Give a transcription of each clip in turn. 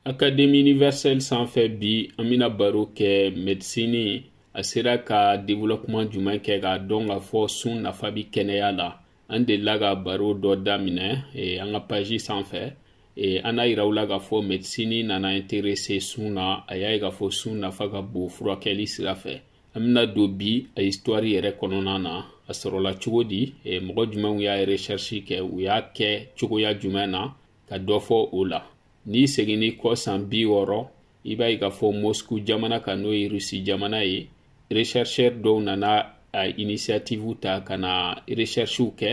Académie universelle sanfɛ bi an bɛna baro kɛ médecine a sera ka développement jumɛn kɛ k'a dɔn k'a fɔ sun nafa bɛ kɛnɛya la an delila ka baro dɔ daminɛ eh, an ka page sanfɛ eh, an n'a yira aw la k'a fɔ médecine nana intéresser sun na a y'a ye k'a fɔ sun nafa ka bon furakɛli sira fɛ an bɛna don bi a histoire yɛrɛ kɔnɔna na a sɔrɔla cogo di eh, mɔgɔ jumɛnw y'a recherche kɛ u y'a kɛ cogoya jumɛn na ka dɔ fɔ o la n'i seginni kɔ san bi wɔɔrɔ i b'a ye k'a fɔ Moscou jamana kan n'o ye Russie jamana ye rechercheur dɔw nana a initiative ta ka na recherchew kɛ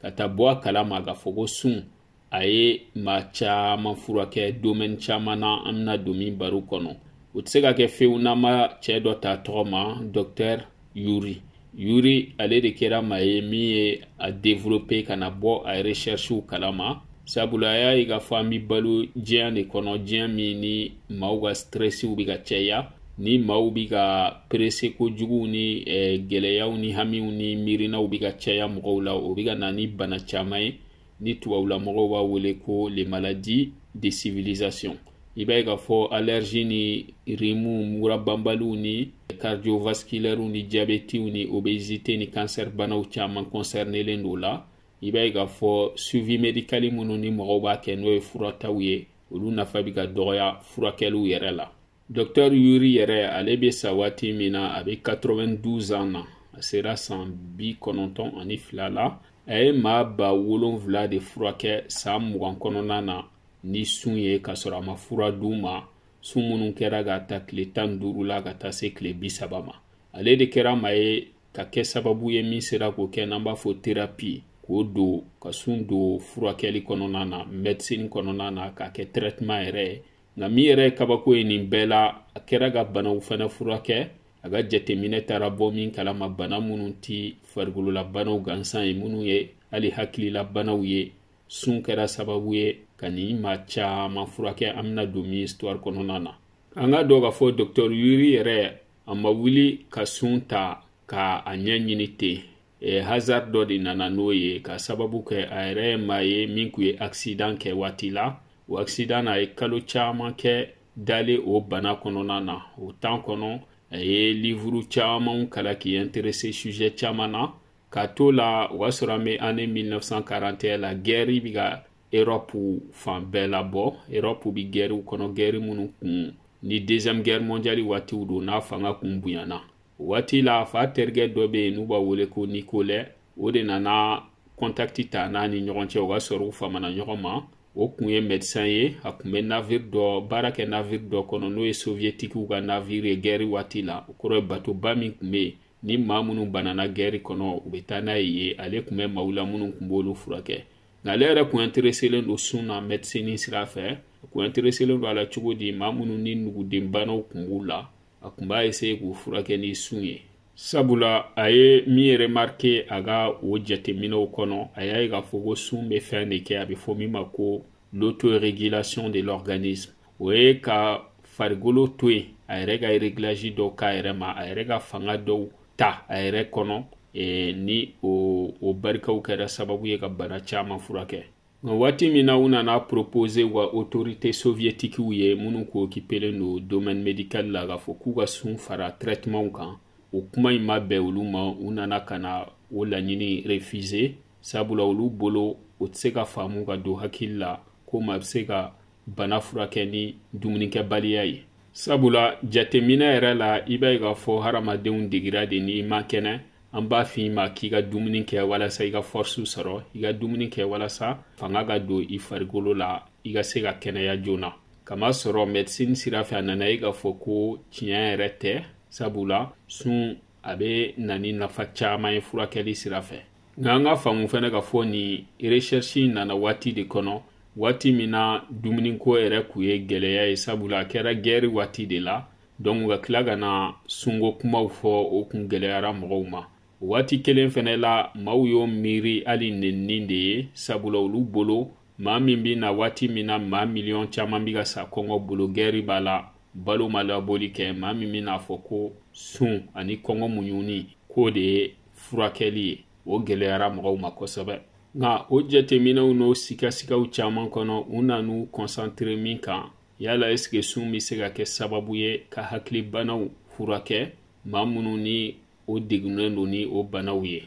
ka taa bɔ a kala ma k'a fɔ ko sun a ye maa caman furakɛ domaine caman na an bɛna don min baro kɔnɔ o tɛ se ka kɛ fewu n'an ma cɛ dɔ ta tɔgɔ ma docteur yuri yuri ale de kɛra maa ye min ye a développer ka na bɔ a recherchew kalama sabula a y'a ye k'a fɔ an bɛ balo diɲɛ de kɔnɔ diɲɛ min ni maaw ka stressiw bɛ ka caya ni maaw bɛ ka perese kojugu ni eh, gɛlɛyaw ni hamiw ni miirinaw bɛ ka caya mɔgɔw la o bɛ ka na ni bana caman ye ni tubabula mɔgɔw b'a wele ko les maladies de civilisation i b'a ye k'a fɔ allergie ni rimu mura banbaliw ni cardiovasculaires ni diabetiw ni obésité ni cancer banaw caman concernelen don o la i b'a ye k'a fɔ suivi médical minnu ni mɔgɔw b'a kɛ n'o ye furataw ye olu nafa bɛ ka dɔgɔya furakɛliw yɛrɛ la Docteur Yuri yɛrɛ ale bɛ sa waati min na a bɛ 92 ans na a sera san bi kɔnɔntɔn ani fila la a ye maa ba wolonwula de furakɛ san mugan kɔnɔna na ni sun ye k'a sɔrɔ a ma fura d'u ma sun minnu kɛra k'a ta tile tan ni duuru la ka taa se tile bi saba ma ale de kɛra maa ye ka kɛ sababu ye min sera k'o kɛ n'an b'a fɔ thérapie k'o don ka sun don furakɛli kɔnɔna na médecine kɔnɔna na k'a kɛ traitement yɛrɛ ye nka min yɛrɛ ye kabako ye nin bɛɛ la a kɛra ka banaw fana furakɛ a ka jateminɛ taara bɔ min kalama bana minnu tɛ farikololabanaw gansan ye minnu ye hali hakililabanaw ye sun kɛra sababu ye ka ni maa caman furakɛ an bɛna don min histoire kɔnɔna na an k'a dɔn k'a fɔ docteur Yuri yɛrɛ a ma wuli ka sun ta ka a ɲɛɲini ten e, hasard dɔ de nana n'o ye ka sababu kɛ a yɛrɛ ye maa ye min kun ye accident kɛ waati la o accident na a ye kalo caman kɛ dalen o bana kɔnɔna na o temps kɔnɔ a ye livuru camanw kalan k'i intéresser sujet caman na ka to la o y'a sɔrɔ an bɛ année 1941 la guerre bɛ ka Europe fan bɛɛ labɔ Europe bɛ guerrew kɔnɔ guerre minnu kun ni deuxième guerre mondiale waatiw don n'a fanga kun bonyana o waati l'a fa terikɛ dɔ bɛ yen n'u b'a wele ko nikolɛ o de nana kɔntakiti ta n'a ni ɲɔgɔn cɛ o ka sɔrɔ u famana ɲɔgɔn ma o kun ye mɛdisan ye a kun bɛ naviri dɔ baara kɛ naviri dɔ kɔnɔ n'o ye soviyetikiw ka naviri ye gɛri waati la o kɔrɔ ye batoba min kun bɛ yen ni maa minnu banana gɛri kɔnɔ u bɛ taa n'a ye yen ale kun bɛ maaw la minnu kun b'olu furakɛ nka ale yɛrɛ kun intereselen don sun na mɛdisini sira fɛ a kun intereselen don a la cogo di maa minnu ni nugudenbanaw kun b'u la a kun b'a essaye k'u furakɛ ni sun ye sabula a ye min remarke a ka o jateminɛw kɔnɔ a y'a ye k'a fɔ ko sun bɛ fɛn de kɛ a bɛ fɔ min ma ko l'autorégulation de l'organisme o ye ka farikolo to yen a yɛrɛ ka regilaji dɔw k'a yɛrɛ ma a yɛrɛ ka fanga dɔw ta a yɛrɛ kɔnɔ e, ni o, o barikaw kɛra sababu ye ka bana caman furakɛ nka waati min na u nana a propose wa autorité soviétiquew ye minnu kun occupelen don domaine médical la k'a fɔ k'u ka sun fara traitement kan o kuma in ma bɛn olu ma u nana ka na o laɲini refuser sabula olu bolo o tɛ se ka faamu ka don hakili la ko maa bɛ se ka bana furakɛ ni dumunikɛbaliya ye sabula jateminɛ yɛrɛ la i b'a ye k'a fɔ hadamadenw degira de n'i ma kɛnɛ an b'a f'i ma k'i ka dumuni kɛ walasa i ka fɔrisiw sɔrɔ i ka dumuni kɛ walasa fanga ka don i farikolo la i ka se ka kɛnɛya joona k'a masɔrɔ mɛdisini sira fɛ a nana ye k'a fɔ ko tiɲɛ yɛrɛ tɛ sabula sun a bɛ na ni nafa caman ye furakɛli sira fɛ nka an k'a faamu fana k'a fɔ nin resɛrisi nana waati de kɔnɔ waati min na dumuniko yɛrɛ kun ye gɛlɛya ye sabula a kɛra gɛri waati de la dɔnku ka tila ka na sunko kumaw fɔ o kun gɛlɛyara mɔgɔw ma o waati kelen fɛnɛ la maaw y'o miiri hali nenni de ye sabula olu bolo maa min bɛ na waati min na maa miliyɔn caman bɛ ka sa kɔngɔ bolo gɛri b'a la balo ma laboli kɛ maa min bɛ n'a fɔ ko sun ani kɔngɔ muɲuni k'o de ye furakɛli ye o gɛlɛyara mɔgɔw ma kosɛbɛ nka o jateminɛw n'o sigasigaw caman kɔnɔ u nan'u kɔnsantere min kan yala esike sun bɛ se ka kɛ sababu ye ka hakilibanaw furakɛ maa minnu ni o degunnen don ni o banaw ye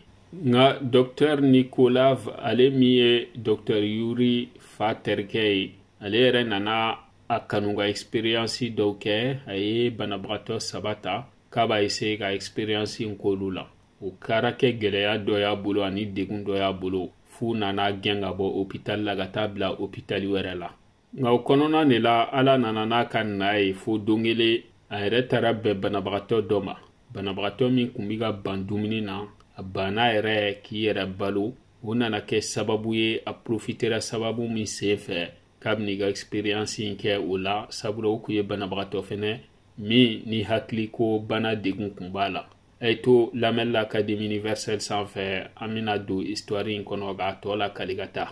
nka dɔktɛr nikolaev ale min ye dɔktɛr yuri fa terikɛ ye ale yɛrɛ nana a kanu ka eksperiyansi dɔw kɛ a ye banabagatɔ saba ta k'a b'a eseye ka eksperiyansi in k'olu la o kɛra kɛ gɛlɛya dɔ y'a bolo ani degun dɔ y'a bolo f'u nan'a gɛn ka bɔ opitali la ka t'a bila opitali wɛrɛ la nka o kɔnɔna de la ala nana n'a ka na ye fo don kelen a yɛrɛ taara bɛn banabagatɔ dɔ ma banabagatɔ min kun bɛ ka ban dumuni na a banna yɛrɛ k'i yɛrɛ balo o nana kɛ sababu ye a profitera sababu min sen fɛ k'a bɛna i ka experience in kɛ o la sabula o kun ye banabagatɔ fɛnɛ min ni hakili ko bana degun kun b'a la a ye to lamɛnni la académie universelle sanfɛ an bɛna don histoire in kɔnɔ k'a tɔ lakali ka taa